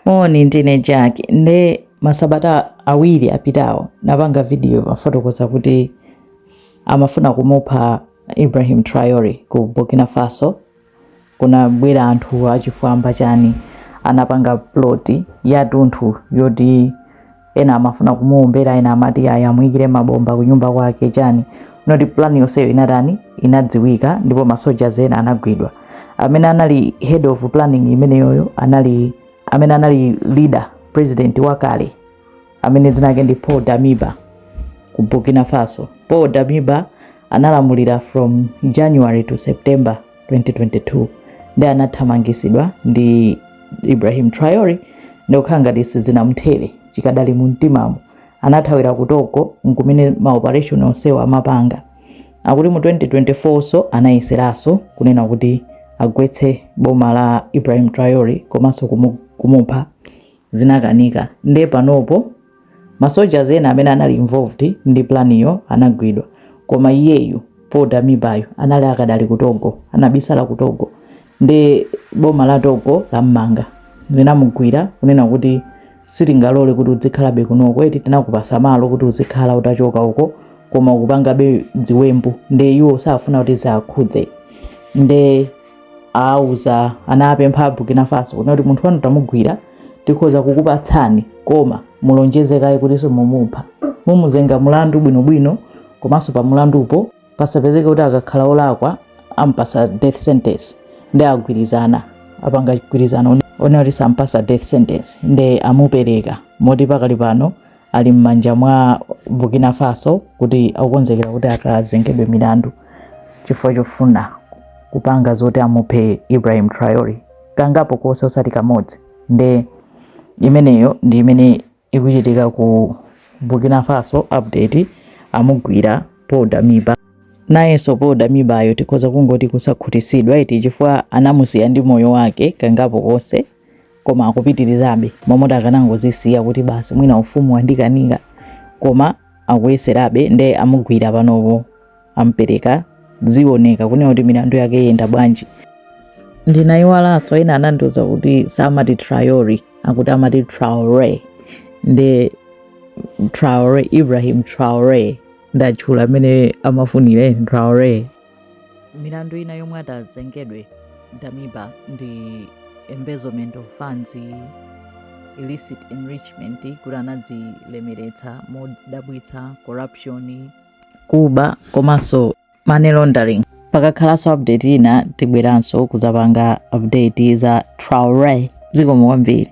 Moni ndine Jack nde masabata awiri apitawo ndinapanga video yofotokoza kuti amafuna kumupha Ibrahim Traore ku Burkina Faso kunabwera anthu achifwamba chani anapanga plot yatunthu yoti ena amafuna kumuombera ena amati ayi amuyikire mabomba kunyumba kwake chani moti plan yonseyo inatani inadziwika ndipo masoja ena anagwidwa amene anali head of planning imeneyoyo amene anali leader president wakale amene dzina lake ndi paul damiba ku burkina faso paul damiba analamulira from january to september 2022 nde anathamangitsidwa ndi Ibrahim Traore nde zikukhala ngati sizinamthere chikadali mu mtimamu anathawira ku Togo nkumene ma operation onsewa amapanga akuti mu 2024nso anayeseranso kunena kuti agwetse boma la Ibrahim Traore komanso kumupha zinakanika nde panopo Ma soldiers ena amene anali involved ndi planyo anagwidwa koma iyeyu Paul Damibayu anali akadali ku Togo, anabisala ku Togo nde boma la Togo lammanga linamugwira kunena kuti sitingalole kuti udzikhalabe kunoko eti tinakupasa malo kuti uzikhala utachoka uko koma ukupangabe ziwembu nde iwo safuna kuti ziwakhudze nde auza anapempha Burkina Faso kunena kuti munthu wanu tamugwira tikhoza kukupatsani koma mulonjeze kaye kuti simumupha mumuzenga mulandu bwinobwino komanso pa mulandupo pasapezeke kuti akakhala olakwa ampasa death sentence nde agwirizana apanga gwirizano onena kuti sampasa death sentence nde amupereka moti pakali pano ali m'manja mwa Burkina Faso kuti akukonzekera kuti akazengedwe milandu chifukwa chofuna kupanga zoti amuphe Ibrahim Traore kangapo konse osati kamodzi nde imeneyo ndi imene ikuchitika ku Burkina Faso update amugwira Paul Damiba nayenso Paul Damibayo tikhoza kungoti kusakhutisidwa eti chifukwa anamusiya ndi moyo wake kangapo konse koma akupitirizabe mmalo moti akanangozisiya kuti basi mwina ufumu wandikanika koma akuyeserabe nde amugwira panopo ampereka zioneka kunena kuti milandu yake yenda bwanji ndinayiwalanso ena anandiuza kuti samati triori akuti amati traore nde traore ibrahim traore ndatchula mmene amafunira traore milandu ina yomwe atazengedwe damiba ndi embezzlement of funds illicit enrichment kuti anadzilemeretsa modabwitsa corruption kuba komanso money laundering pakakhalanso update ina tibweranso kudzapanga update za traore zikomo kwambiri